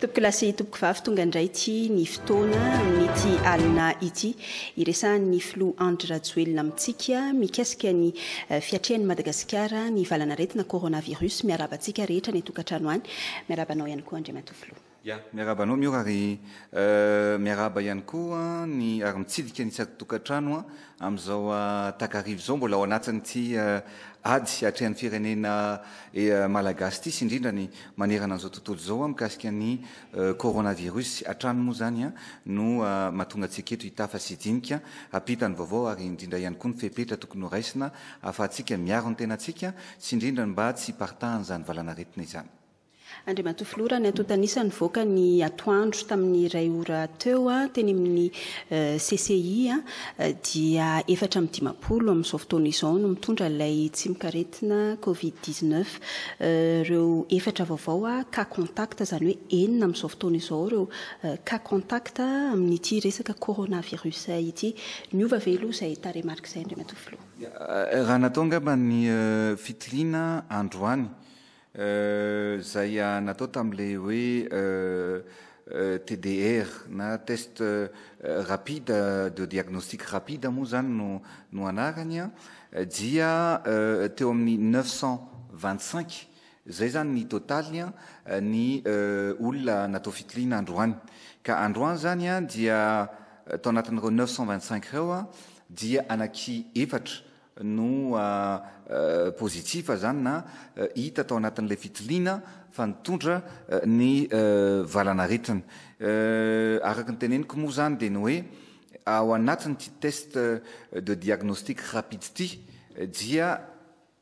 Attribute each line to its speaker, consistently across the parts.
Speaker 1: Tompoko lahy sy tompoko vavy, tonga indray ity ny fotoana amin'ity alina ity iresahan'ny filoha Andry Rajoelina amintsika mikasika ny eh, fiatrehan'i Madagasikara ny valanaretina coronavirus. Miaraba antsika rehetra any an-tokantrano any. Miaraba anao ihany koa Andriamatoa Filoha. Ya, miarahaba anao
Speaker 2: Miora ary miarahaba ihany koa ny ary mitsidika ny tsatokatrano amin'izao takariva izao mbola ao anatin'ity ady hatrehan'ny firenena malagasy ity sy indrindra ny manerana an'izao tontolo izao mikasika ny coronavirus hatrany moa izany no mahatonga antsika eto hitafa sy hidinika hampita ny vaovao ary indrindra ihany koa ny fepetra tokony horaisina ahafahantsika miaro ny tenantsika sy indrindra ny mba tsy hiparitahan'izany valanaretina izany. Andriamatoa
Speaker 1: Filoha, raha ny antontan'isa nivoaka ny atoandro tamin'ny iray ora teo teny amin'ny CCI dia efatra amby dimampolo amin'izao fotoana izao no mitondra ilay tsimok'aretina covid dix neuf. Ireo efatra vaovao cas contact, izany hoe enina amin'izao fotoana izao ireo cas contact amin'ity resaka coronavirus ity. Niova ve aloha izay tarehimarika izay Andriamatoa Filoha? Raha natao angamba
Speaker 2: ny fitiliana androany Izay natao tamin'ilay hoe TDR na test rapide de diagnostic rapide moa izany no no anarany an, dia teo amin'ny neuf cent vingt cinq, izay izany ny totaliny an, ny olona natao fitiliana androany. Ka androany izany an dia tao anatin'ireo neuf cent vingt cinq ireo an dia anaky efatra no positif zany na hita tao anatin'ilay fitiliana fa nitondra ny valan'aretina. Araka ny teneniko moa zany dia ny hoe ao anatin'ity test de diagnostic rapide ity dia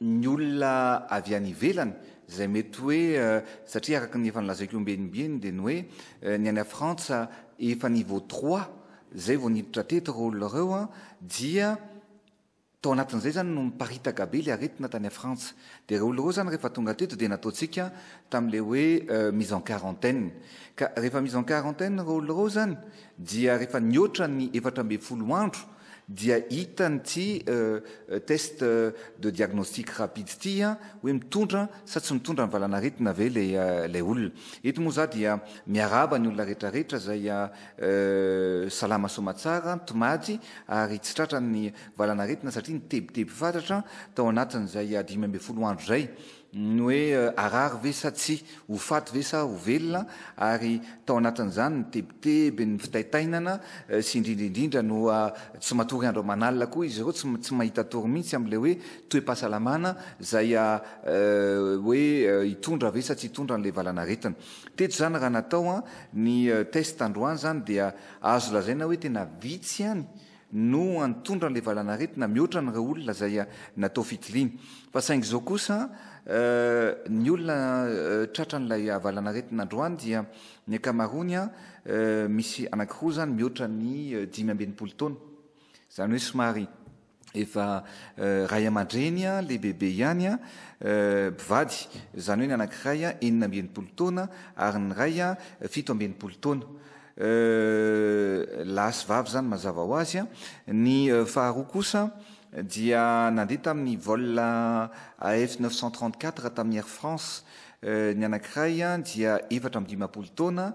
Speaker 2: ny olona avy any ivelany izay mety hoe satria araka ny efa nolazaiko ombieny ombieny dia ny hoe ny any Frantsa efa niveau trois izay vao niditra teto ireo olona ireo dia Tao anatin'izay izany no niparitaka be ilay aretina tany à Frantsa. Dia ireo olona ireo izany rehefa tonga teto dia nataontsika tamin'ilay hoe mise en quarantaine. Ka rehefa mise en quarantaine ireo olona ireo izany dia rehefa nihoatra ny efatra ambin'ny folo andro dia hita an'ity test de diagnostic rapide ity hoe mitondra sa tsy mitondra ny valan'aretina ve ilay olona. Eto moa izaho dia miarahaba ny olona rehetra rehetra izay Salama soamatsara an, Tomaty, ary tsy tratra ny valan'aretina satria ny tebiteby fatratra tao anatin'izay dimy ambin'ny folo andro izay, ny hoe harary ve sa tsia, ho faty ve sa ho velona, ary tao anatin'izany ny tebiteby, ny fitaitainana, sy indrindra indrindra no tsy matory andro aman'alina koa izy ireo, tsy tsy mahita tory mihitsy amin'ilay hoe toe-pahasalamana izay hoe hitondra ve sa tsy hitondra an'ilay valan'aretina. Teto izany raha natao ny test androany izany dia azo lazaina hoe tena vitsy ihany no antondra ilay valanaretina mihoatra an'ireo olona izay natao fitiliana. Fa saingy izao kosa ny olona tratran'ilay valanaretina androany dia ny ankamaroany misy anankiroa izany mihoatra ny dimy amby enimpolo taona. Izany hoe somary. efa ray aman-dreny lehibebe ihany, mpivady, izany hoe ny anankiray enina amby enimpolo taona ary ny iray fito amby enimpolo taona. Lahy sy vavy izany mazava ho azy. Ny faharoa kosa dia nandeha tamin'ny vol AF neuf cent trente-quatre tamin'ny Air France Ny anankiray dia efatra amby dimampolo taona,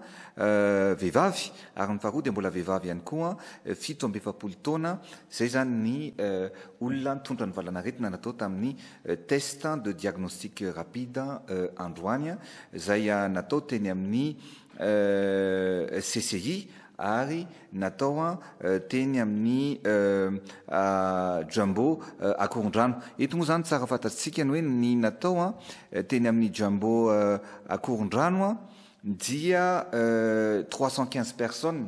Speaker 2: vehivavy, ary ny faharoa dia mbola vehivavy ihany koa, fito amby efapolo taona. Izay izany ny olona nitondra ny valan'aretina natao tamin'ny test de diagnostic rapide androany, izay natao teny amin'ny CCI. ary natao teny amin'ny Jumbo Akorondrano. Eto moa izany tsara fantatsika ny hoe ny natao teny amin'ny Jumbo Akorondrano dia trois cent quinze personnes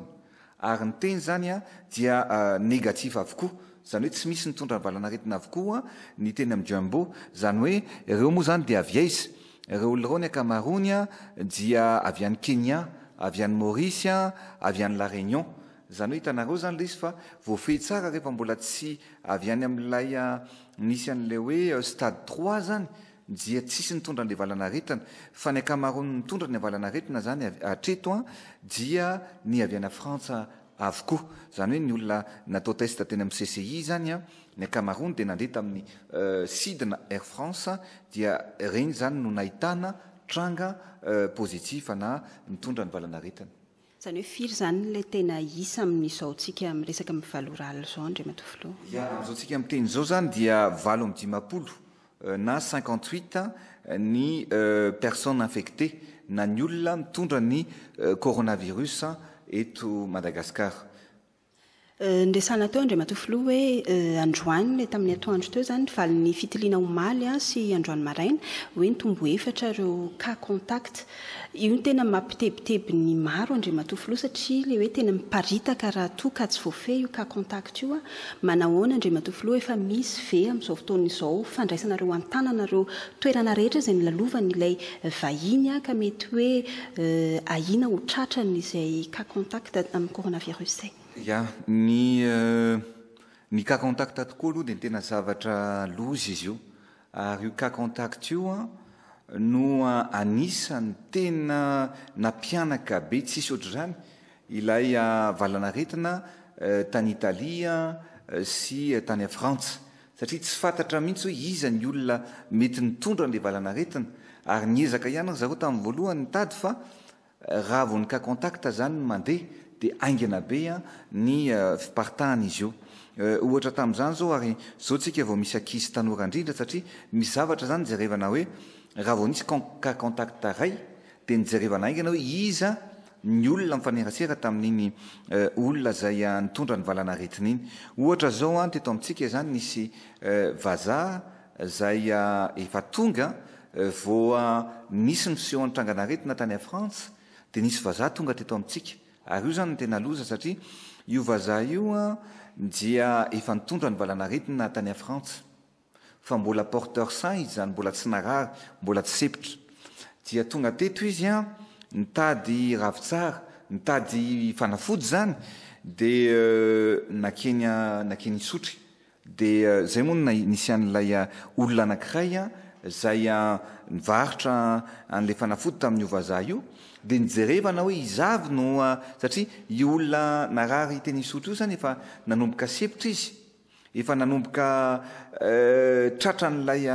Speaker 2: ary ny teny izany dia négatif avokoa, izany hoe tsy misy nitondra ny valan'aretina avokoa ny teny amin'ny Jumbo, izany hoe ireo moa izany dia avy aiza? Ireo olon'ireo ny ankamaroany dia avy any Kenya, avy any Maurice, avy any La Réunion. Izany hoe hitanareo izany ilay izy fa voafehy tsara rehefa mbola tsy avy any amin'ilay nisy an'ilay hoe stade trois izany dia tsisy nitondra an'ilay valanaretina fa ny ankamaroan'ny nitondra ny valanaretina izany hatreto dia ny avy any Frantsa avokoa. Izany hoe ny olona natao test teny amin'ny CCI izany an, ny ankamaroany dia nandeha tamin'ny sidina Air France dia ireny izany no nahitana tranga positif na nitondra ny valan'aretina. Izany hoe firy
Speaker 1: izany ilay tena isa amin'izao tsika miresaka amin'ny valo ralina izao Andriamatoa Filoha? Ya, amin'izao tsika
Speaker 2: miteny izao izany dia valo amby dimampolo na cinquante huit ny personnes infectées na ny olona mitondra ny coronavirus eto Madagasikara.
Speaker 1: Niresahana teo Andriamatoa Filoha hoe androany ilay tamin'ny atoandro teo izany ny valin'ny fitiliana omaly sy androany maraina hoe nitombo efatra ireo cas contact Io no tena mampitebiteby ny maro Andriamatoa Filoha satria ilay hoe tena miparitaka raha toa ka tsy voafehy io cas contact io a! Manahoana Andriamatoa Filoha efa misy ve amin'izao fotoana izao fandraisanareo an-tanana ireo toerana rehetra izay nolalovan'ilay vahiny a! ka mety hoe ahiana ho tratrany izay cas contact amin'ny coronavirus izay? Ya, ny
Speaker 2: ny cas contact tokoa aloha dia tena zavatra loza izy io. Ary io cas contact io no anisany tena nampihanaka be tsisy ohatr'izany ilay valanaretina tany Italia sy tany Frantsa satria tsy fantatra mihitsy hoe iza ny olona mety nitondra an'ilay valanaretina ary niezaka ihany ry zareo tamin'ny voalohany nitady fa Raha vao ny cas contact zany no mandeha dia haingana be ny fiparitahan izy io. Ohatra tamin'izany zao ary zao tsika vao misy ankizy tanora indrindra satria misy zavatra zany jerevana hoe raha vao nisy cas contact ray dia nijerevana haingana hoe iza ny olona mifanerasera tamin'iny olona zay nitondra ny valanaretina iny. Ohatra zao teto amintsika izany nisy vazaha izay efa tonga vao nisy ny fisehoan'ny trangan'aretina tany Frantsa dia nisy vazaha tonga teto amintsika ary io izany no tena loza satria io vazaha io dia efa nitondra ny valan'aretina tany Frantsa fa mbola porteur sain izy izany mbola tsy narary mbola tsy sepitra dia tonga teto izy nitady ravitsara nitady fanafody izany dia nakeny nakeny Isotry Dia izay moa no nisy an'ilay olona anankiray izay nivarotra an'ilay fanafody tamin'io vazaha io, dia nijerevana hoe iza avy no, satria io olona narary teny Isotry io izany efa nanomboka sempotra izy, efa nanomboka tratra an'ilay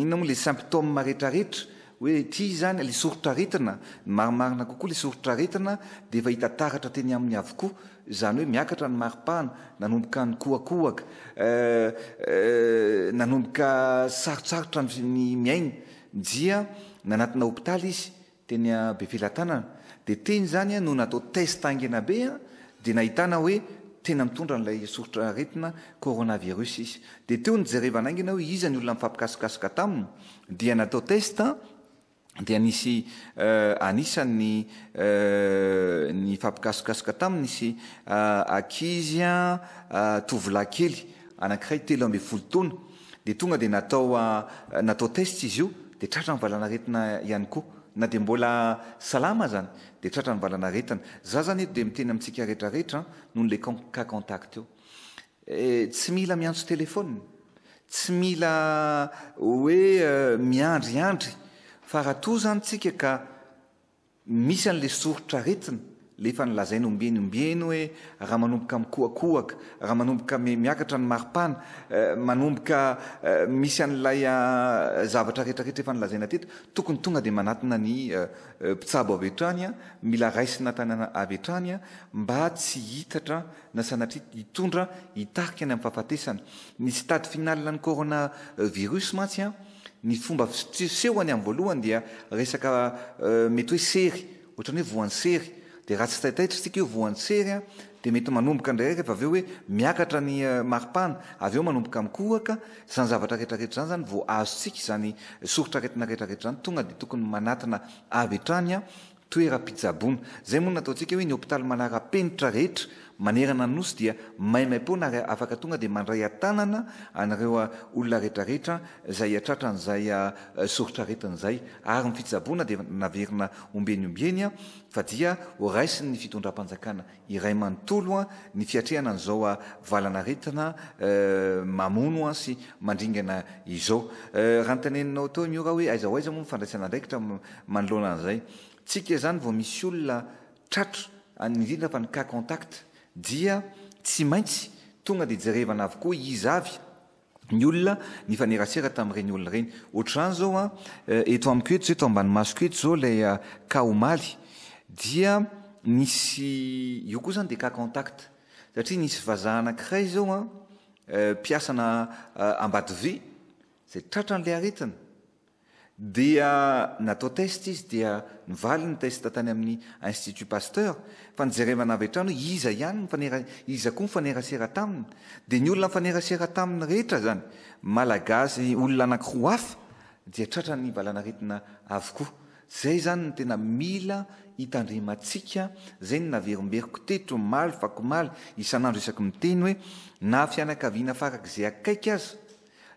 Speaker 2: inona moa ilay symptômes rehetrarehetra, Hoe ity izany ilay soritr'aretina, ny marimarina kokoa ilay soritr'aretina dia efa hita taratra teny aminy avokoa, izany hoe miakatra ny maripana, nanomboka nikohakohaka, nanomboka sarotsarotra ny miaina dia nanatona hopitaly izy teny Befelatanana, dia teny izany no natao test haingana be dia nahitana hoe tena mitondra an'ilay soritr'aretina coronavirus izy, dia teo no jerevana haingana hoe iza ny olona mifampikasokasoka taminy, dia natao test dia nisy anisan'ny nifampikasokasoka taminy nisy ankizy tovolahy kely anankiray telo ambin'ny folo taona dia tonga dia natao natao test izy io dia tratra ny valanaretina ihany koa na dia mbola salama aza dia tratra ny valanaretina za zany eto dia miteny amintsika retraretra noho le cas contact io Eh, tsy mila miantso telephone, tsy mila hoe miandriandry fa raha toa zany tsika ka misy an'le soritra aretina, le efa nolazainy ombieny ombieny hoe raha manomboka mikohakohaka, raha manomboka miakatra ny maripana, manomboka misy an'ilay zavatra rehetra rehetra efa nolazaina teto, tokony tonga dia manatona ny mpitsabo avy hatrany, mila raisina tany avy hatrany mba tsy hitatra na sanatria hitondra hitarika any amin'ny fahafatesana. Ny stade final an'ny corona virus mantsy ny fomba fisehony amin'ny voalohany dia resaka mety hoe sery, ohatrany hoe voan'ny sery dia raha tsy taitaitra isika io voan'ny sery dia mety manomboka indrairaiky avy eo hoe miakatra ny maripana avy eo manomboka mikohaka, izany zavatra rehetra rehetra izany izany vao azontsika izany soritr'aretina rehetra rehetra izany tonga dia tokony manatona avy hatrany Toeram-pitsaboana. Izay moa no nataontsika hoe ny hopitaly manara-penitra rehetra manerana ny Nosy dia maimaimpoana ary afaka tonga dia mandray an-tanana an'ireo olona rehetrarehetra izay hiatratra an'izay soritr'aretina izay. Ary ny fitsaboana dia naverina ombieny ombieny fa dia horaisin'ny fitondram-panjakana iray manontolo an ny fiatrehana an'izao a valanaretina eh mamono an sy mandringana izao eh raha noteneninao teo io ra hoe aiza ho aiza moa ny fandraisana andraikitra manoloana an'izay tsika izany vao misy olona tratro an indrindra fa ny cas contact dia tsy maintsy tonga dia jerevana avokoa iza avy ny olona nifanerasera tamin'ireny olona ireny. Ohatr'izany izao an, eto amiko eto izao, eto ambany masoko eto izao ilay cas omaly, dia nisy, io koa izany dia cas contact, satria nisy vazaha anankiray izao an, mpiasana Ambatovi, izay tratran'ilay aretina. Dia natao test izy dia nivaly ny test tany amin'ny Institut Pasteur fa nijerevana avy hatrany hoe iza ihany nifanera iza koa nifanerasera taminy dia ny olona nifanerasera taminy rehetra izany Malagasy olona anankiroa hafa dia tratran'ny valanaretina avokoa. Izay izany no tena mila hitandremantsika, izay no naverimberiko teto omaly, vakomaly, isan'andro isaky miteny hoe na fianakaviana farak'izay akaiky aza,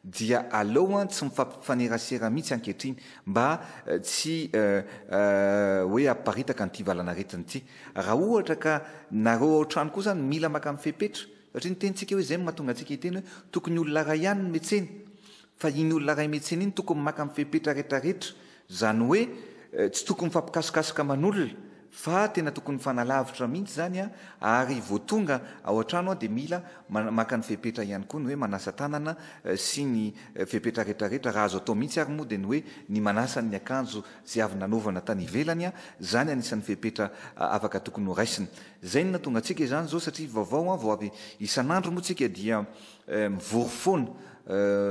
Speaker 2: Dia aleo an tsy mifampifanerasera mihitsy ankehitriny mba tsy hoe hamparitaka an'ity valan'aretina ity. Raha ohatra ka nareo ao trano koa zany mila makany fepetra, satria ny tenintsika hoe zay no mahatonga antsika hiteny hoe tokony olona iray ihany ny metsena, fa iny olona iray metsena iny tokony makany fepetra retraretra Izany hoe tsy tokony mifampikasikasika aman'olona fa tena tokony mifanalavitra mihitsy izany an, ary vao tonga ao an-trano an dia mila maka ny fepetra ihany koa ny hoe manasa tanana sy ny fepetra rehetra rehetra, raha azo atao mihitsy ary moa dia ny hoe ny manasa ny akanjo izay avy nanaovana tany ivelany an, izany anisan'ny fepetra afaka tokony ho raisina. Izay no nahatonga antsika izany izao satria vaovao an, vao avy isan'andro moa tsika dia mivory foana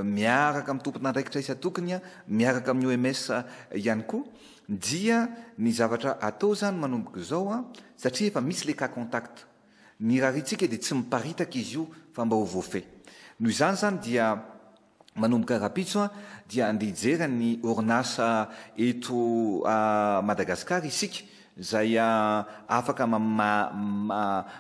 Speaker 2: miaraka amin'ny tompon'andraikitra isan-tokony, miaraka amin'ny OMS ihany koa, dia ny zavatra atao izany manomboka izao satria efa misy ilay cas contact, ny rariantsika dia tsy miparitaka izy io fa mba ho voafehy. Noho izany izany dia manomboka rahampitso dia andeha hijery ny orinasa eto Madagasikara isika izay afaka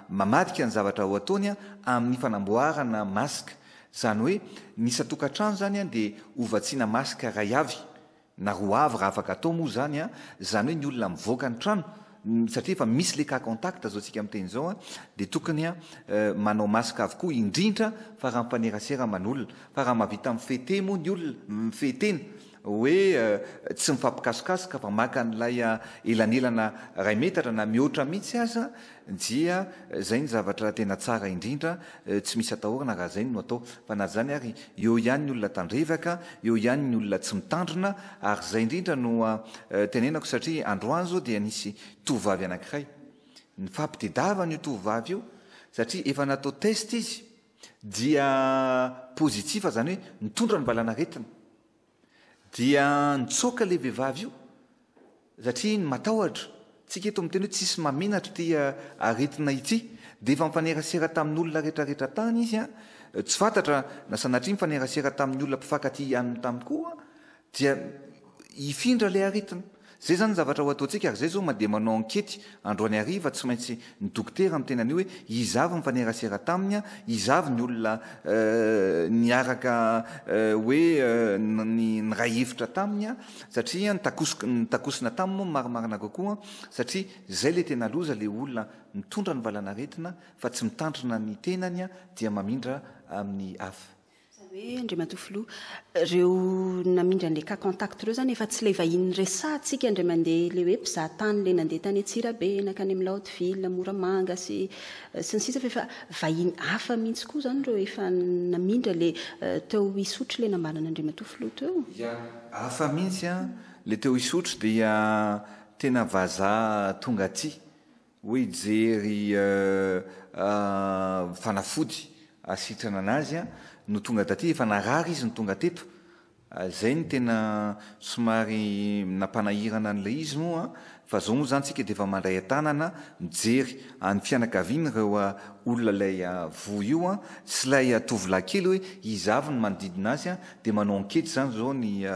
Speaker 2: mamadika ny zavatra ho ataony amin'ny fanamboarana masque, izany hoe ny isan-tokantrano izany dia hovatsiana masque iray avy na roa avy raha afaka atao moa izany, izany hoe ny olona mivoaka ny trano satria efa misy ilay cas contact azaontsika miteny izao dia tokony manao masque avokoa indrindra fa raha mifanerasera aman'olona fa raha mahavita mifehy tena moa ny olona, mifehy tena. hoe tsy mifampikasokasoka fa maka an'ilay elanelana iray metatra na mihoatra mihitsy aza dia izay ny zavatra tena tsara indrindra, tsy misy atahorana raha izay no atao fa na izany ary eo ihany ny olona tandrevaka, eo ihany ny olona tsy mitandrina ary izay indrindra no tenenako satria androany izao dia nisy tovovavy anankiray nifampitedavana io tovovavy io satria efa natao test izy dia positif zany hoe nitondra ny valanaretina dia nitsoaka le vehivavy io satria matahotra tsika eto miteny hoe tsisy mamenatra ity aretina ity dia efa mifanerasera tamin'olona retraretra tany izy a tsy fantatra na sanatria mifanerasera tamin'ny olona mpifankatia ihanyny tany koa Dia hifindra ilay aretina. Izay izany ny zavatra ho ataontsika, ary izay izao mandeha manao ankety androany hariva, tsy maintsy ny dokotera miteny an'io hoe iza avy nifanerasera taminy, iza avy ny olona niaraka hoe niray hevitra taminy, satria nitakosona taminy moa no marimarina kokoa, satria izay ilay tena loza, ilay olona mitondra ny valan'aretina fa tsy mitandrina ny tenany dia mamindra amin'ny hafa. Izany hoe, Andriamatoa
Speaker 1: Filoha, ireo namindra an'ilay cas contact ireo izany efa tsy ilay vahiny niresahantsika indray mandeha ilay hoe mpizaha tany ilay nandeha tany Antsirabe, nankany amin'ny Laotyvila, Moramanga sy sy ny sisa fa efa vahiny hafa mihitsy koa izany ireo efa namindra ilay teo Isotry ilay nambaran'Andriamatoa Filoha teo. Ya, hafa
Speaker 2: mihitsy an, ilay teo Isotry dia tena vazaha tonga aty Hoe hijery fanafody hasitrana an'azy no tonga taty, efa narary izy no tonga teto, izay no tena somary nampanahirana an'ilay izy moa fa izao moa izany tsika dia efa mandray an-tanana mijery any fianakaviany ireo olona ilay voa io sy ilay tovolahy kely hoe iza avy no manodidina azy dia manao ankety izany izao ny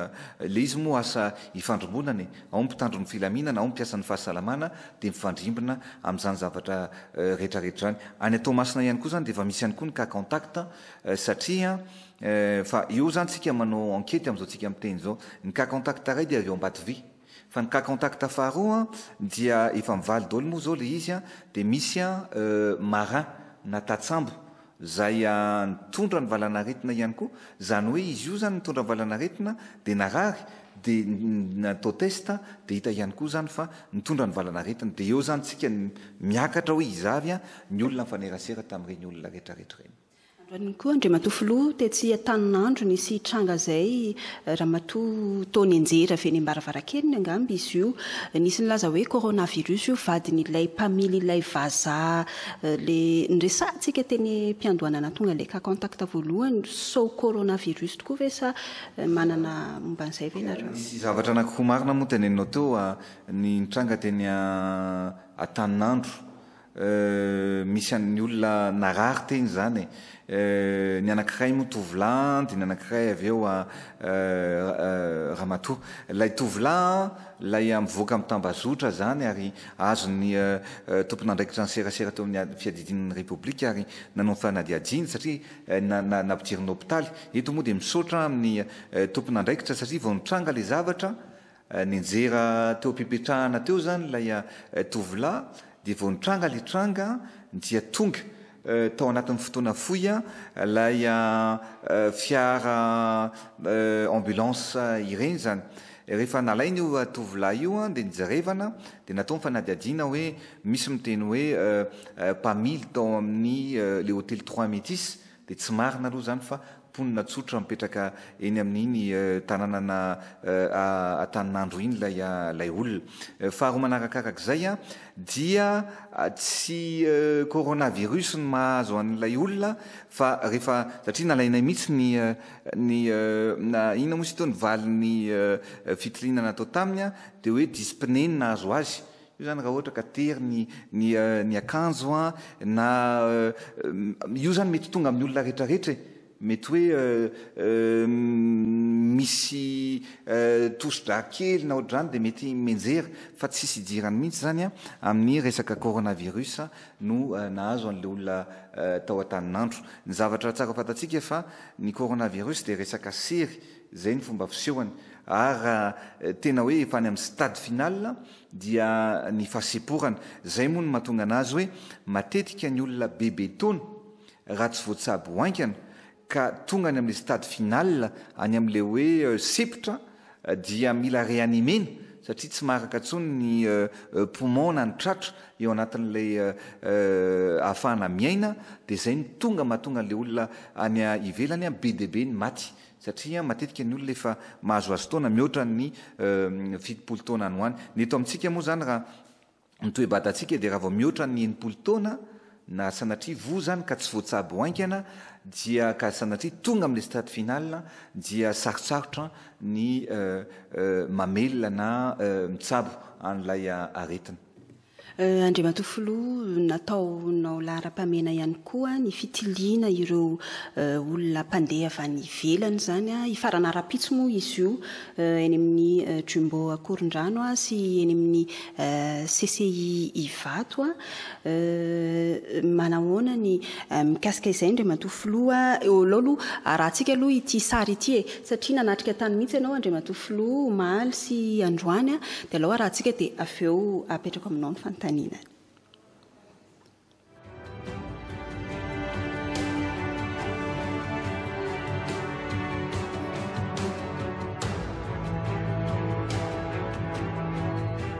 Speaker 2: ilay izy moa asa ifandrombonana e! ao ny mpitandro ny filaminana, ao ny mpiasan'ny fahasalamana dia mifandrimbona amin'izany zavatra rehetrarehetra izany. Any Toamasina ihany koa izany dia efa misy ihany koa ny cas contact satria fa eo izany isika manao enquete amin'izao isika miteny izao. Ny cas contact iray dia avy ao Ambatovia fa ny cas contact faharoa dia efa mivaly daholo moa izao ilay izy dia misy marin na tatsambo. izay nitondra ny valanaretina ihany koa, izany hoe izy io izany nitondra ny valanaretina dia narary dia natao test dia hita ihany koa izany fa nitondra ny valanaretina, dia eo izany tsika miakatra hoe iza avy ny olona nifanerasera tamin'ireny olona retraretra ireny. Androany
Speaker 1: koa Andriamatoa Filoha tetsy Antaninandro nisy hitranga izay, Ramatoa Tony Enjery avy eny Ambaravarankeliny angamba izy io, nisy nilaza hoe coronavirus io vadin'ilay mpamily ilay vazaha Le niresahantsika teny mpiandohanana tonga le cas contact voalohany sao coronavirus tokoa ve sa manana momba an'izay ve nareo? Nisy zavatra anaky roa
Speaker 2: marina moa teneninao teo a, ny nitranga teny Antaninandro, misy an'ny olona narary teny zany e, Euh ny anankiray moa tovolahy an dia ny anankiray avy eo an euh ramatoa. Ilay tovolahy an ilay mivoaka mitambazotra izany ary azon'ny euh tompon'andraikitra ny serasera teo amin'ny fiadidian'ny Repoblika ary nanao ny fanadihadiany satria na na nampidirina hopitaly. Eto moa dia misaotra amin'ny euh tompon'andraikitra satria vao nitranga ilay zavatra Nianjera teo am-pipetrahana teo izany ilay tovolahy dia vao nitranga ilay tranga dia tonga tao anatin'ny fotoana fohy ilay fiara ambulance ireny izany. Rehefa nalaina io tovolahy io dia nijerevana dia natao ny fanadihadiana hoe misy miteny hoe mpamily tao amin'ny ilay hotely Trois Metis Dia tsy marina aloha izany fa mponina tsotra mipetraka eny amin'iny tananana Antaninandro iny ilay olona. Faharoa manarakarak'izay dia tsy coronavirus no mahazo an'ilay olona fa rehefa, satria nalainay mihitsy ny ny na inona moa izy ity, ny valin'ny fitiliana natao taminy dia hoe dyspnée no nahazo azy. Io zany raha ohatra ka tery ny ny ny akanjo an, na io zany mety tonga amin'ny olona rehetra rehetra e! Mety hoe misy tosi-drà kely na ohatr'izany dia mety mianjera fa tsisy idirany mihitsy zany an, amin'ny resaka coronavirus no nahazo an'ilay olona tao Antaninandro. Ny zavatra tsara fantatsika fa ny coronavirus dia resaka sery, zay ny fomba fisehony ary raha tena hoe efa any amin'ny stade final, dia ny fahasemporana. Izay moa no mahatonga anazy hoe matetika ny olona bebe taona raha tsy voatsabo haingana ka tonga any amin'ilay stade final, any amin'ilay hoe sempotra dia mila reanimena satria tsy maharaka intsony ny poumon na ny tratra eo anatin'ilay ahafahana miaina dia izay no tonga mahatonga an'ilay olona any ivelany be dia be ny maty satria matetika ny olona efa mahazoazo taona mihoatra ny fitopolo taona any ho any, ny eto amintsika moa izany raha ny toe-batantsika dia raha vao mihoatra ny enimpolo taona na sanatria voa izany ka tsy voatsabo ho haingana dia ka sanatria tonga amin'ilay stade final dia sarotsarotra ny mamelona na mitsabo an'ilay aretina. Andriamatoa
Speaker 1: Filoha, nataonao laharam-pahamehana ihany koa ny fitiliana ireo olona mpandeha avy any ivelany izany, hifarana rahampitso moa izy io eny amin'ny Jumbo Ankorondrano sy eny amin'ny CCI Ivato. Manahoana ny mikasika izay Andriamatoa Filoha? Eo aloha aloha arahantsika aloha ity sary ity e! satria nanatrika tany mihitsy ianao Andriamatoa Filoha omaly sy androany dia alao arahantsika dia avy eo apetrako aminao ny fanontaniana.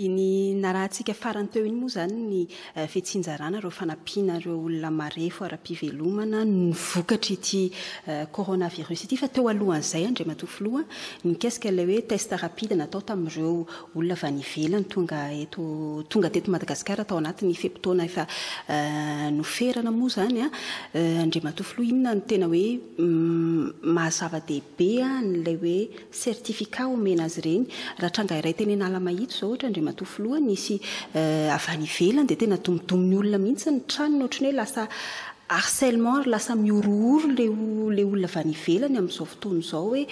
Speaker 1: Iny narahantsika farany teo iny moa izany ny eh, fitsinjarana ireo fanampiana ireo olona marefo ara-pivelomana ny vokatr'ity eh, coronavirus ity. Fa teo alohan'izay, Andriamatoa Filoha, mikasika ilay hoe test rapide natao tamin'ireo olona avy any ivelany tonga eto tonga teto Madagasikara tao anatin'ny fe-potoana efa eh, noferana moa izany. Ah. Eh, Andriamatoa Filoha, inona no tena hoe mm, maha-zava-dehibe an'ilay hoe certificat omena azy ireny. Raha tranga iray teny Analamahitsy izao ohatra Andriamatoa Filoha, nisy avy any ivelany dia tena domodomon'ny olona mihitsy ny tranony ohatran'ny hoe lasa harcèlement ary lasa mihorohoro ilay ilay olona avy any ivelany amin'izao fotoana izao hoe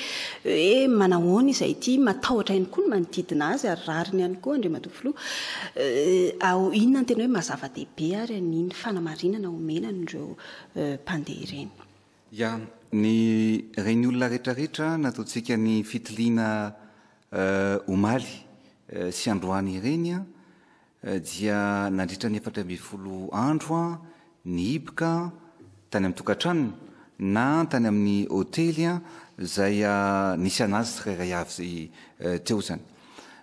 Speaker 1: hoe manahoana izy ity, matahotra ihany koa ny manodidina azy ary rariny ihany koa Andriamatoa Filoha. Inona no tena hoe maha zava-dehibe ary an'iny fanamarinana omena an'ireo mpandeha ireny? Ya,
Speaker 2: ny reny olona rehetra rehetra nataontsika ny fitiliana omaly sy androany ireny dia nandritra ny efatra ambin'ny folo andro nihiboka tany amin'ny tokantranony na tany amin'ny hotely izay nisy an'azy tsirairay avy teo izany.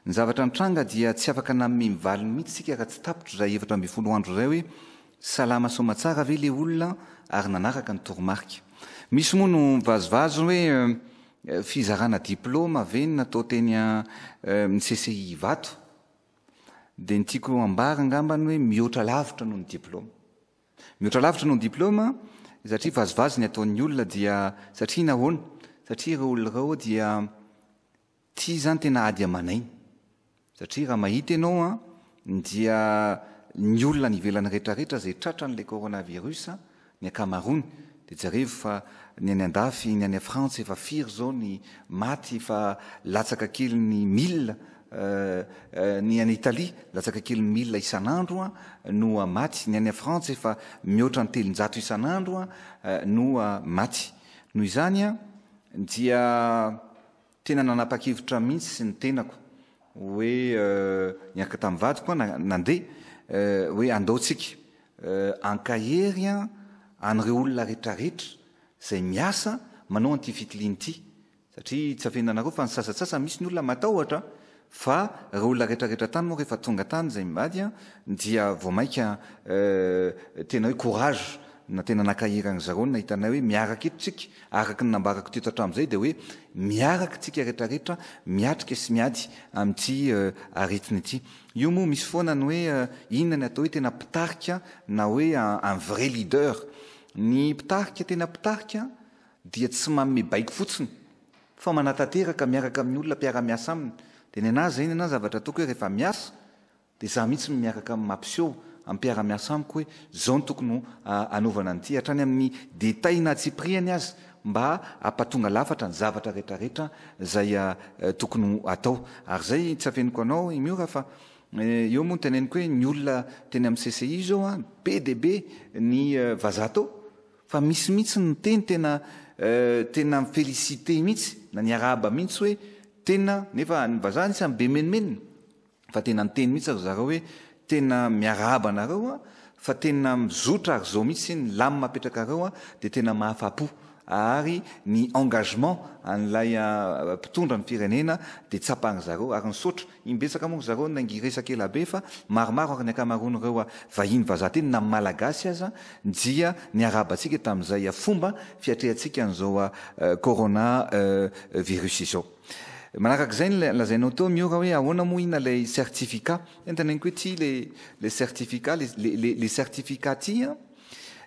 Speaker 2: Ny zavatra nitranga dia tsy afaka nanome ny valiny mihitsy isika raha tsy tapitra izay efatra ambin'ny folo andro izay hoe Salama soamatsara ve le olona ary nanaraka ny toromarika? Misy moa no mivazivazy hoe fizarana diploma ve no natao teny amin'ny CCI Ivato? Dia ny tiako hambara angamba ny hoe mihoatra lavitra noho ny diploma. Mihoatra lavitra noho ny diploma satria vazivazy ny ataon'ny olona dia satria nahoana? Satria ireo olona ireo dia Ty zany tena ady aman'aina. Satria raha mahita ianao an, dia ny olona any ivelany retraretra izay tratran'ilay coronavirus, ny ankamaroany, dia jereo fa ny any andafy, ny any frantsa efa firy izao ny maty efa latsaka kely ny mille, ny any Italie latsaka kely ny mille isan'andro no maty, ny any frantsa efa mihoatra ny telonjato isan'andro no maty. Noho izany dia. Tena nanapa-kevitra aho mihitsy ny tenako hoe niaraka tamin'ny vadiko aho nandeha hoe andao tsika ankahery an'ireo olona retraretra izay miasa manao an'ity fitiliana ity satria tsy afehinanareo fa ny sasatsasany misy ny olona matahotra Fa reo olona retra retra tany moa refa tonga tany zay mivady an dia vao maika tena hoe courage na tena nankahirany ry zareo ny nahita anay hoe miaraka eto tsika araka ny nambarako teto hatram zay dia hoe miaraka tsika retra retra miatrika sy miady amity aretina ity io moa misy foana ny hoe inona ny atao hoe tena mpitarika na hoe un vrai leader ny mpitarika tena mpitarika dia tsy manome baiko fotsiny fa manatanteraka miaraka amin'ny olona mpiara-miasa aminy, dia nenaha izay nenaha ny zavatra ataoko hoe rehefa miasa dia izaho mihitsy no miaraka mampiseho amin'ny mpiara-miasa amiko hoe izao no tokony hanaovana an'ity hatrany amin'ny détails na antsipirihany aza mba hampatonga lafatra ny zavatra retraretra izay tokony ho atao ary izay tsy afeniko anao i Miora fa eo moa no teneniko hoe ny olona teny amin'ny CCI izao an be dia be ny vazaha tao Fa misy mihitsy ny miteny tena tena mi-feliciter mihitsy na ny araba mihitsy hoe tena nefa ny vazaha ny samy be menomenona fa tena niteny mihitsy ry zareo hoe tena miarahaba anareo a fa tena mizotra ary zao mihitsy ny lamina apetrakareo a dia tena mahafapo ary ny engagement an'ilay mpitondra ny firenena dia tsapan'ry zareo ary nisaotra Imbetsaka moa ry zareo no nangiresaka ela be fa maromaro ary ny ankamaroan'ireo vahiny vazaha teny na Malagasy aza dia niarahabantsika tamin'izay fomba fiatrehantsika an'izao Corona virus izao. Manaraka izay ny lazainao teo Miora hoe ahoana moa ina ilay certificat. Tena teneniko hoe ity ilay certificat, ilay certificat ity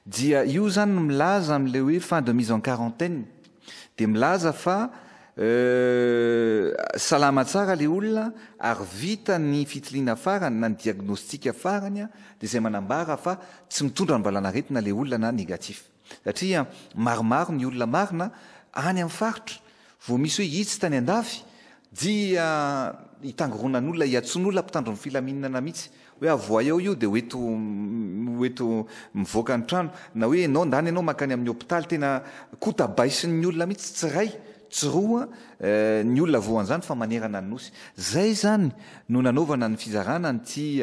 Speaker 2: dia io izany no milaza an'ilay hoe fin de mise en quarantaine. Dia milaza fa salama tsara ilay olona ary vita ny fitiliana farany na ny diagnostika farany dia izay manambara fa tsy mitondra ny valanaretina ilay olona na négatif. Satria maromaro ny olona marina any amin'ny faritra vao misy hoe itsy tany andafy dia hitangoronan'olona hiantsoan'olona mpitandro ny filaminana mihitsy Hoe avohay ao io dia ho eto ho eto mivoaka ny trano na hoe enao ndany enao makany amin'ny hopitaly tena kota baisin'ny olona mitsy tsy ray tsy roa ny olona voan'zany fa manerana ny nosy zay zany no nanaovana ny fizarana an'ity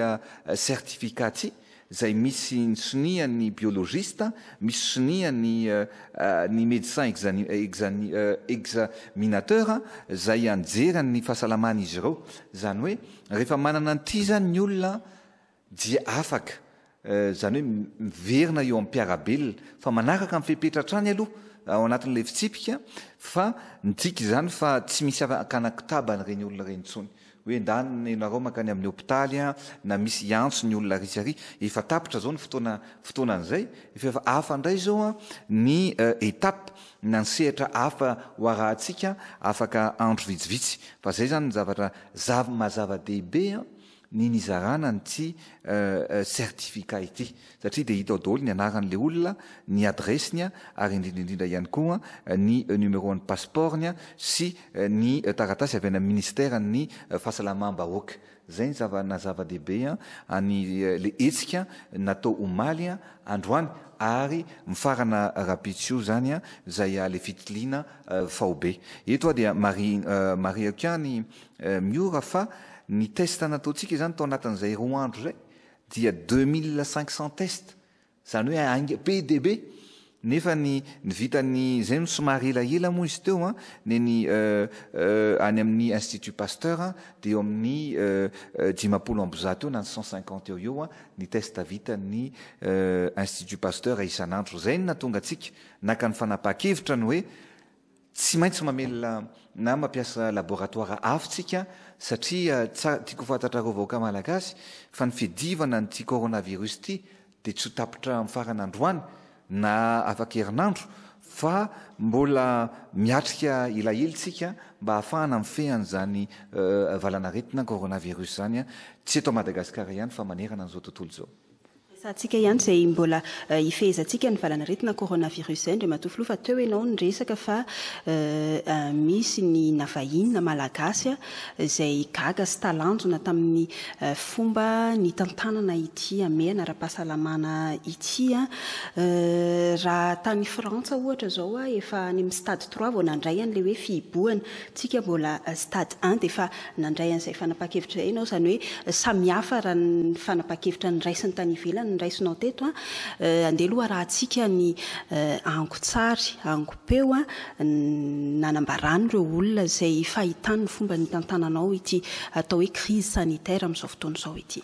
Speaker 2: certificat ty zay misy ny sonia ny biologiste misy sonia ny ny medecin exani examinateur zay anjeran'ny fahasalamany izy ireo zany hoe Rehefa manana an'ity izany ny olona dia afaka, izany hoe miverina eo am-piarabelona, fa manaraka ny fepetra hatrany aloha ao anatin'ilay fitsipika fa midika izany fa tsy misy hakana kotaba an'ireny olona ireny intsony hoe endany ianareo mankany amin'ny hopitaly na misy hiantso ny olona ary sy ary. Efa tapitra izao ny fotoana fotoanan'izay, efa hafa indray izao ny étape na ny sehatra hafa ho arahantsika afaka andro vitsivitsy fa zay zany ny zavatra zav maha zava dehibe ny nizarana an'ity certificat ity satria dia hita ao daholo ny anaran'ilay olona, ny adiresiny ary indrindra indrindra ihany koa ny numéro an'ny passeport-ny sy ny taratasy avy any amin'ny ministeran'ny fahasalamam-bahoaka. Izay ny zava na zava-dehibe an ny le hetsika natao omaly androany ary mifarana rahampitso izany an izay le fitiliana faobe. Eto aho dia marihako ihany Miora fa ny test nataontsika izany tao anatin'izay roa andro izay dia deux mille cinq cents test Izany hoe haingana be dia be. Nefa ny ny vitan'ny izay no somary elaela moa izy teo an, neny any amin'ny Institut Pasteur an, dia eo amin'ny dimampolo amby zato eo na ny cent cinquante eo ho eo ny test vitan'ny Institut Pasteur isan'andro. Izay no nahatonga antsika naka ny fanapahan-kevitra ny hoe Tsy maintsy mamelona na mampiasa laboratoara avo tsika satria tsara tiako fantatrareo vahoaka malagasy fa ny fidivana an'ity coronavirus ity dia tsy ho tapitra amin'ny farany androany na afaka herinandro fa mbola miatrika elaela tsika mba ahafahana mifehy an'izany valanaretina coronavirus zany tsy eto Madagasikara ihany fa manerana an'izao tontolo izao. Sa antsika ihany
Speaker 1: izay mbola hifehezantsika ny valan'aretina coronavirus izay Andriamatoa Filoha fa teo ianao niresaka fa misy ny na vahiny na malagasy izay gaga sy talanjona tamin'ny fomba nitantanana ity hamehana ara-pahasalamana ity. Raha tany Frantsa ohatra izao efa any amin'ny stade trois vao nandray an'ilay hoe fihibohana. Tsika mbola stade un dia efa nandray an'izay fanapahan-kevitra izay ianao, izany hoe samihafa raha ny fanapahan-kevitra niraisiny tany ivelany no raisinao teto an! Andeha aloha arahantsika ny angon-tsary, angon-peo nanambarany ireo olona izay fahitany ny fomba nitantananao ity atao hoe crise sanitaire amin'izao fotoana izao ity.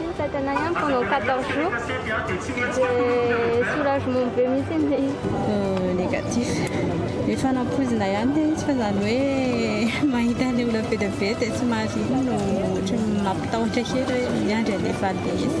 Speaker 3: Mitantana ihany pendant 14 jours dia soulagement
Speaker 4: be mihitsy ilay izy. Négatif. Efa nampoizina ihany ilay izy fa izany hoe mahita an'ilay olona be dia be dia somary iny no ohatran'ny mampitahotra kely hoe miandry an'ilay fahateizana.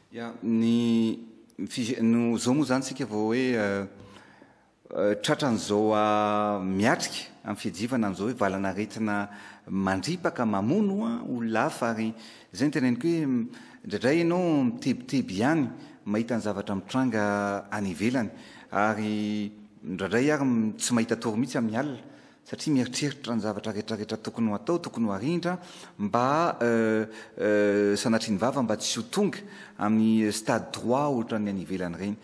Speaker 1: Ya, ny
Speaker 2: fij no zao moa zany tsika vao hoe tratran'izao miatrika amin'ny fiajivana an'izao hoe valan'aretina mandripaka mamono olona hafa ary zay ny teneniko hoe indraindray ianao mitebiteby ihany mahita ny zavatra mitranga any ivelany ary indraindray ary tsy mahita tory mihitsy amin'ny alina satria mieritreritra ny zavatra retraretra tokony ho atao, tokony ho arindra mba sanatrian'ny vava mba tsy ho tonga amin'ny stade trois ohatran'ny any ivelany ireny.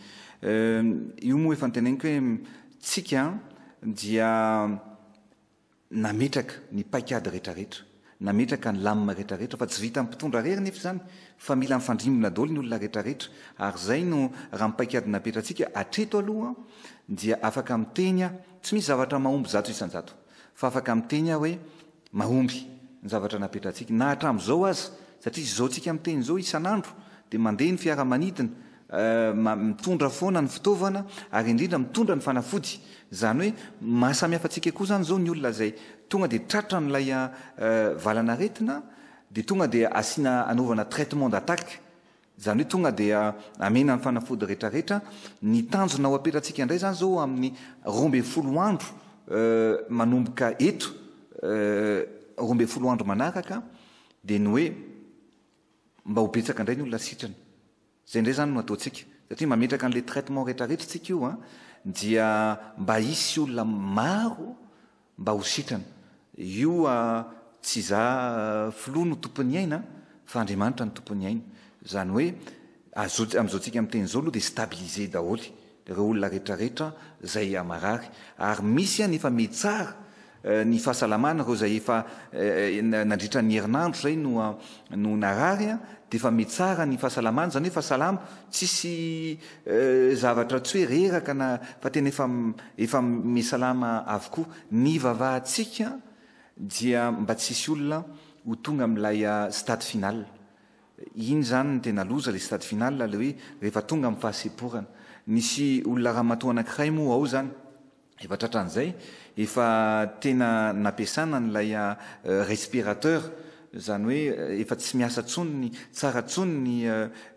Speaker 2: Io moa efa niteneniko hoe tsika dia nametraka ny paikady retraretra. Nametraka ny lamina rehetra rehetra fa tsy vitan'ny mpitondra rery nefa izany fa mila mifandrimbona daholo ny olona rehetra rehetra ary izay no raha ny paikady napetratsika hatreto aloha dia afaka miteny aho tsy misy zavatra mahomby zato isanjato fa afaka miteny aho hoe mahomby ny zavatra napetratsika na hatramin'izao aza satria izao tsika miteny izao isan'andro dia mandeha ny fiaramanidina mitondra foana ny fitaovana ary indrindra mitondra ny fanafody, izany hoe mahasamihafa antsika koa izany izao ny olona izay tonga dia tratra an'ilay valan'aretina dia tonga dia asiana anaovana traitement d'attaque, izany hoe tonga dia amena ny fanafody retraretra, ny tanjona ho apetratsika indray izany izao amin'ny roa ambin'ny folo andro manomboka eto roa ambin'ny folo andro manaraka dia ny hoe mba ho betsaka indray ny olona sitrana. Zay ndray zany no ataontsika satria mametraka anle traitement rehetra rehetra tsika io an dia mba hisy olona maro mba ho sitrana io tsy za filoha no tompon'ny aina fa Andriamanitra no tompon'ny aina zany hoe amzao tsika miteny zao aloha dia stabiliser daholy ireo olona retraretra izay marary ary misy any efa mitsara ny fahasalamana ireo izay efa nandritra ny herinandro izay no no narary dia efa mitsara ny fahasalamany izany hoe efa salama tsisy zavatra tsy hoe reraka na fa tena efa efa misalama avokoa ny vavahantsika dia mba tsisy olona ho tonga amin'ilay stade final Iny izany no tena loza ilay stade final ilay hoe rehefa tonga amin'ny fahasemporana. Nisy olona ramatoa anankiray moa ao izany, efa tratran'izay, efa tena nampiasana an'ilay respirateur, izany hoe efa tsy miasa intsony, tsara intsony ny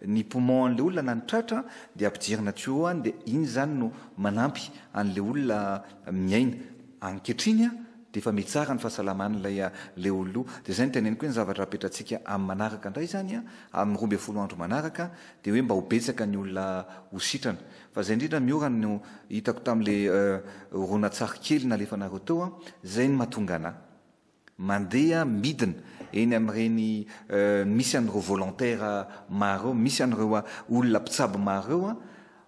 Speaker 2: ny poumon-n'ilay olona na ny tratra dia ampidirina tuyau any dia iny izany no manampy an'ilay olona miaina. Ankehitriny an! Dia efa mitsara ny fahasalaman'ilay a le ollo, dia izay no teneniko hoe ny zavatra apetratsika amin'ny manaraka indray izany a, amin'ny roa ambin'ny folo andro manaraka, dia hoe mba ho betsaka ny olona ho sitrana. Fa izay indrindra miora no hitako tamin'ilay a horonantsary kely nalefanareo teo a, izay no mahatonga anà mandeha midina eny amin'ireny a misy an'ireo volontaire maro ireo, misy an'ireo a olona mpitsabo maro ireo a,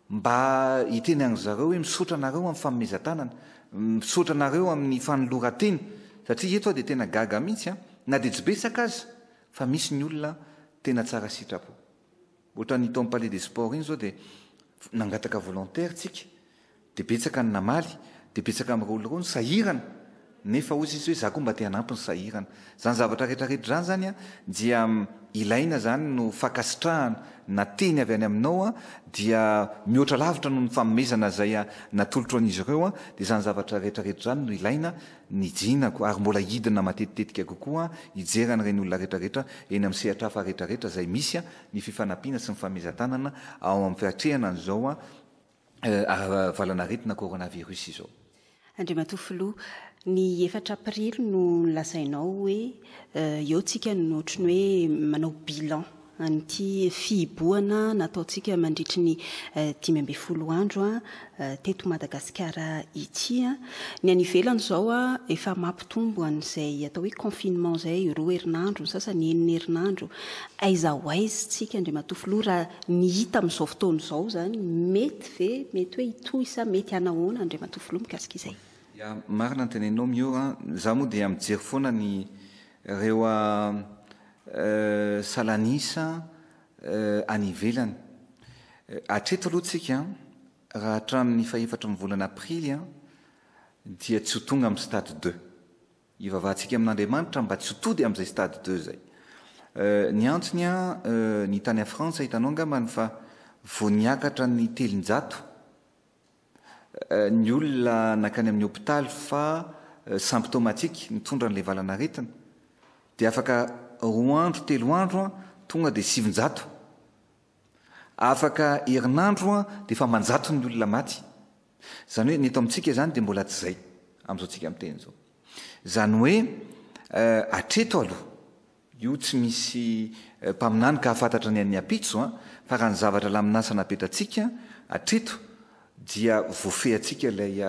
Speaker 2: Mba hiteny an-dry zareo hoe misaotra anareo amin'ny fanomezan-tanana, misaotra anareo amin'ny fanoloran-tena, satria eto aho dia tena gaga mihitsy an, na dia tsy betsaka aza fa misy ny olona tena tsara sitrapo. Ohatran'ny tao amin'ny Palais des Sports iny izao dia nangataka volontaire tsika, dia betsaka ny namaly, dia betsaka mirôlirô ny sahirana, Nefa hoy sisa hoe za koa mba te hanampy ny sahirana. Zany zavatra rehetra rehetra zany zany an dia ilaina zany no fakasitrahana na teny avy any aminao an dia mihoatra lavitra noho ny fanomezana zay an natolotro an'izy ireo an dia zany zavatra rehetra rehetra zany no ilaina ny jinako ary mbola hidina matetitetika kokoa an hijery an'ireny olona rehetra rehetra eny amin'ny sehatra hafa rehetra rehetra zay misy an ny fifanampiana sy ny fanomezan-tanana ao amin'ny fiatrehana an'izao an valan'aretina coronavirus izao. Andriamatoa Filoha,
Speaker 1: ny efatra Aprily no nolazainao hoe eo tsika no ohatry ny hoe manao bilan an'ity fihibohana nataontsika mandritry ny dimy ambin'ny folo andro teto Madagasikara ity. Ny any ivelany izao efa mampitombo an'izay atao hoe confinement izay, roa herinandro, ny sasany enina herinandro. Aiza ho aiza isika Andriamatoa Filoha raha ny hita amin'izao fotoana izao izany? Mety ve, mety hoe hitohy sa mety hanahoana Andriamatoa Filoha mikasika izay? Ya, marina ny
Speaker 2: teneninao Miora a. Izaho moa dia mijery foana ny ireo salan'isa any ivelany. Hatreto aloha tsika Raha hatramin'ny fahefatry ny volana aprily dia tsy ho tonga amin'ny stade de. Ivavahantsika amin'Andriamanitra mba tsy ho tody amin'izay stade de izay. Ny antony ny tany Frantsa hitanao angambany fa vao niakatra ny telonjato ny olona nankany amin'ny hopitaly fa symptomatique nitondra an'ilay valan'aretina dia afaka roa andro telo andro tonga dia sivinjato Afaka herinandro an dia efa manjato ny olona maty. Izany hoe ny eto amintsika izany dia mbola tsy izay amin'izao tsika miteny izao. Izany hoe hatreto aloha, io tsy misy mpaminany ka hafantatra ny an'ny ampitso an, fa raha ny zavatra lamin'asa napetratsika hatreto dia voafehintsika ilay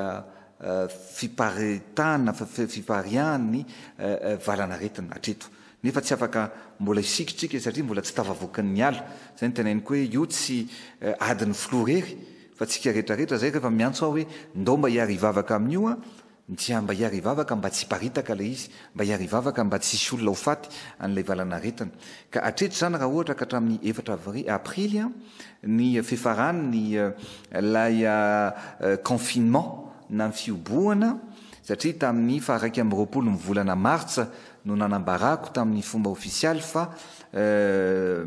Speaker 2: fiparitahana, fipariahan' ny valan'aretina hatreto, nefa tsy afaka mbola hisiky isika satria mbola tsy tafavoakan' ny ala, izay no teneniko hoe io tsy adin'ny filoha irery fa antsika rehetra rehetra, izay rehefa miantso aho hoe ndao mba hiara-hivavaka amin'io aho Ntsya mba hiary hivavaka mba tsy hiparitaka ilay izy, mba hiary hivavaka mba tsy hisy olona ho faty an'ilay valanaretina. Ka hatreto izany raha ohatra ka hatramin'ny efatra avrily, aprily an, ny fefaran'ny ilay confinement na ny fihobohana, satria tamin'ny faha iraika amby roapolo ny volana martsa no nanambarako tamin'ny fomba ofisialy fa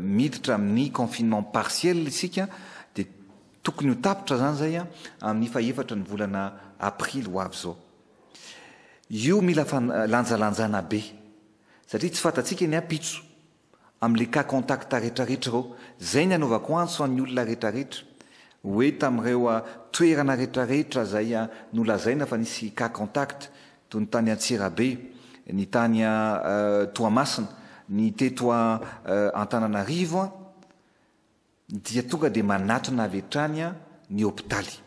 Speaker 2: miditra amin'ny confinement partiel isika, dia. Tokony ho tapitra izany izay amin'ny fahefatra ny volana aprily ho avy izao. Io mila lanjalanjana be satria tsy fantatsika ny ampitso amin'ilay cas contact retraretra ireo. Izay ny anaovako antso an'ny olona retraretra hoe tamin'ireo toerana retraretra izay nolazaina fa nisy cas contact toy ny tany Antsirabe, ny tany Toamasina, ny teto Antananarivo, dia tonga dia manatona avy hatrany ny hopitaly.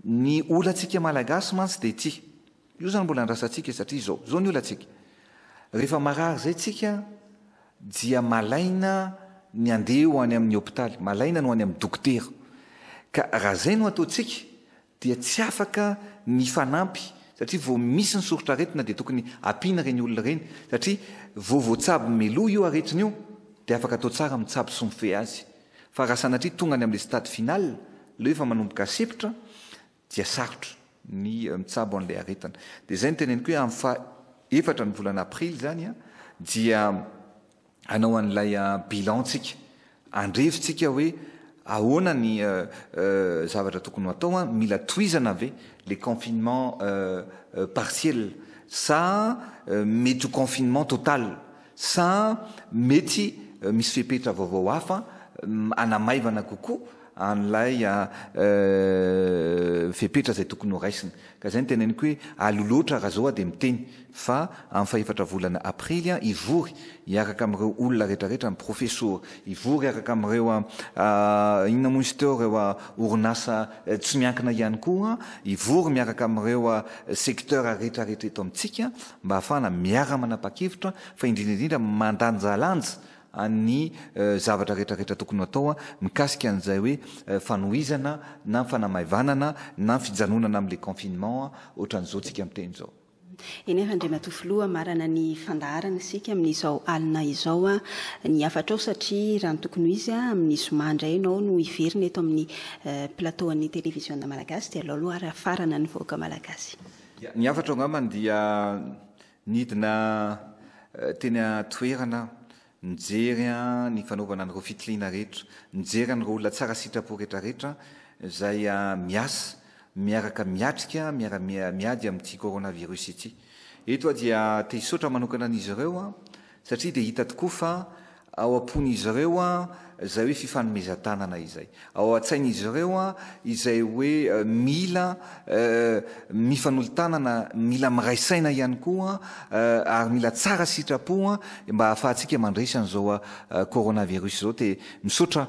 Speaker 2: Ny olantsika malagasy mantsy dia ity. Io izany mbola andrasantsika satria izao, izao ny olantsika. Rehefa marary izay tsika dia malaina ny andeha ho any amin'ny hopitaly, malaina ny ho any amin'ny dokotera. Ka raha izay no ataontsika dia tsy afaka mifanampy satria vao misy ny soritr'aretina dia tokony ampiana ireny olona ireny satria vao voatsabo meloa io aretina io dia afaka atao tsara mitsabo sy mifehy azy fa raha sanatria tonga any amin'ilay stade final leo efa manomboka asepotra dia sarotra ny mitsabo an'ilay aretina dia izay no teneniko hoe amin'ny faha efatra ny volana aprily izany dia hanao an'ilay bilan tsika, andrevintsika hoe ahoana ny zavatra tokony ho atao, mila tohizana ve le confinement partiel sa mety ho confinement total sa mety misy fepetra vaovao hafa hanamaivana kokoa an'ilay fepetra izay tokony ho raisina. Ka izay no teneniko hoe aleo loatra raha izao dia miteny fa amin'ny fahefatra volana aprily hivory hiaraka amin'ireo olona rehetra rehetra ny profesora, hivory hiaraka amin'ireo inona moa izy teo ireo orinasa tsy miankina ihany koa, hivory miaraka amin'ireo secteurs rehetra rehetra eto amintsika mba hahafahana miara-manapa-kevitra fa indrindra indrindra mandanjalanja ny zavatra rehetra rehetra tokony ho atao mikasika an'izay hoe fanohizana na ny fanamaivanana na ny fijanonana amin'ilay confinement ohatran'izao tsika miteny izao. Eny ary
Speaker 1: Andriamatoa Filoha, marana ny fandaharana isika amin'izao alina izao. Ny hafatrao satria raha ny tokony ho izy amin'ny zoma indray ianao no hiverina eto amin'ny plateau an'ny televiziona malagasy dia alao aloha ary hafarana ny vahoaka malagasy. Ny hafatrao
Speaker 2: angambany dia Nidina teny an-toerana aho, nijery ny fanaovana an'ireo fitiliana rehetra, nijery an'ireo olona tsara sitrapo rehetrarehetra izay miasa miaraka miatrika miara-miady amin'ity coronavirus ity. Eto aho dia te-hisaotra manokana an'izy ireo Satria dia hita tokoa fa ao am-pon'izy ireo izay hoe fifanomezan-tanana izay. Ao an-tsain'izy ireo izay hoe mila mifanolo-tanana, mila miray saina ihany koa ary mila tsara sitrapo mba hahafahantsika mandresy an'izao coronavirus izao. Dia misaotra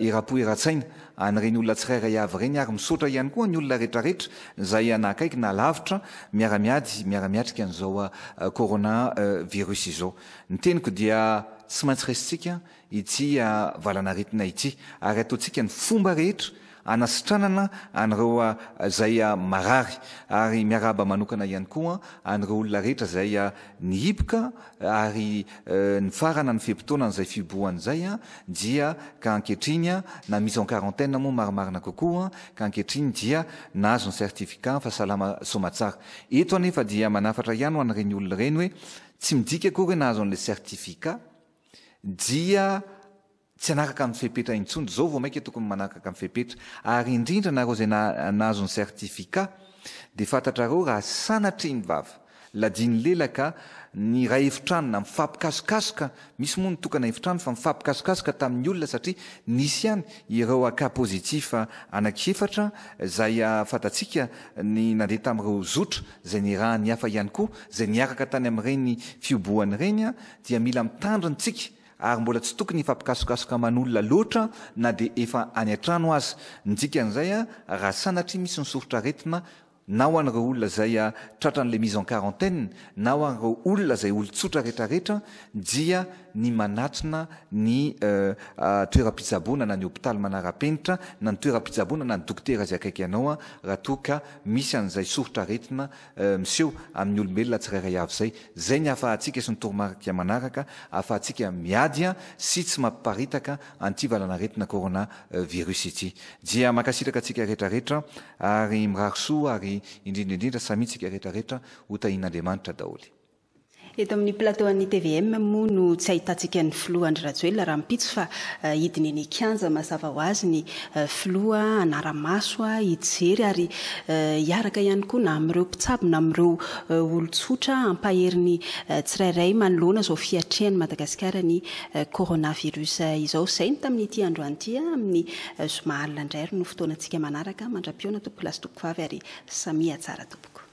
Speaker 2: Erapo Eratsaina. an'ireny olona tsirairay avy ireny ary misaotra ihany koa ny olona retraretra izay na akaiky na lavitra miara-miady miara-miatrika an'izao corona virus izao. Ny teniko dia tsy maintsy raisintsika ity valan'aretina ity ary ataontsika ny fomba rehetra hanasitranana an'ireo izay marary ary miarahaba manokana ihany koa an'ireo olona rehetra izay nihiboka ary nifarana ny fe-potoanan'izay fihibohana izay dia ka ankehitriny na mise en quarantaine moa marimarina kokoa ka ankehitriny dia nahazo ny certificat fa salama soamatsara. Eto anefa dia manafatra ihany ho an'ireny olona ireny hoe tsy midika akory hoe nahazo an'ilay certificat dia Tsy hanakaka ny fepetra intsony, zao vao maika tokony manakaka ny fepetra, ary indrindra nareo izay nahazo ny certificat dia fantatrareo raha sanatria ny vava, ladiany lela ka ny iray efitrano na mifampikasokasoka, misy moa ny tokana efitrano fa mifampikasokasoka tamin'ny olona satria nisy ihany ireo cas positif anaky efatra izay fantatsika ny nandeha tamin'ireo zotra izay nirahan'ny hafa ihany koa izay niaraka tany amin'ireny fiobohana ireny dia mila mitandrina tsika ary mbola tsy tokony hifampikasokasoka aman'olona loatra na dia efa any an-trano aza ny dikan'izay raha sanatria misy ny soritr'aretina na ho an'ireo olona izay tratran'ilay mise en quarantaine na ho an'ireo olona izay olon-tsotra retraretra dia ny manatona ny toeram-pitsaboana na ny hopitaly manara-penitra na ny toeram-pitsaboana na ny dokotera izay akaiky anao raha toa ka misy an'izay soritr'aretina miseho amin'ny olombelona tsirairay avy izay. Izay ny ahafahantsika sy ny toromarika manaraka ahafahantsika miady sy tsy mampiparitaka an'ity valan'aretina corona virus ity. Dia mankasitraka antsika rehetra rehetra ary mirary soa ary indrindra indrindra samia tsika rehetra rehetra ho tahin'Andriamanitra daholo. Eto amin'ny
Speaker 1: plateau an'ny tvm moa no tsy ahitantsika ny filoha Andry Rajoelina rahampitso fa hidina eny an-kianja mazava ho azy ny filoha hanara-maso, hijery ary hiaraka ihany koa na amin'ireo mpitsabo na amin'ireo olon-tsotra hampahery ny tsirairay manoloana izao fiatrehan'i Madagasikara ny coronavirus izao. Izay ny tamin'ity androany ity. Amin'ny zoma alina indray ary no fotoanantsika manaraka. Mandra-pihaona tompokolahy sy tompoko vavy ary samia tsara tompoko.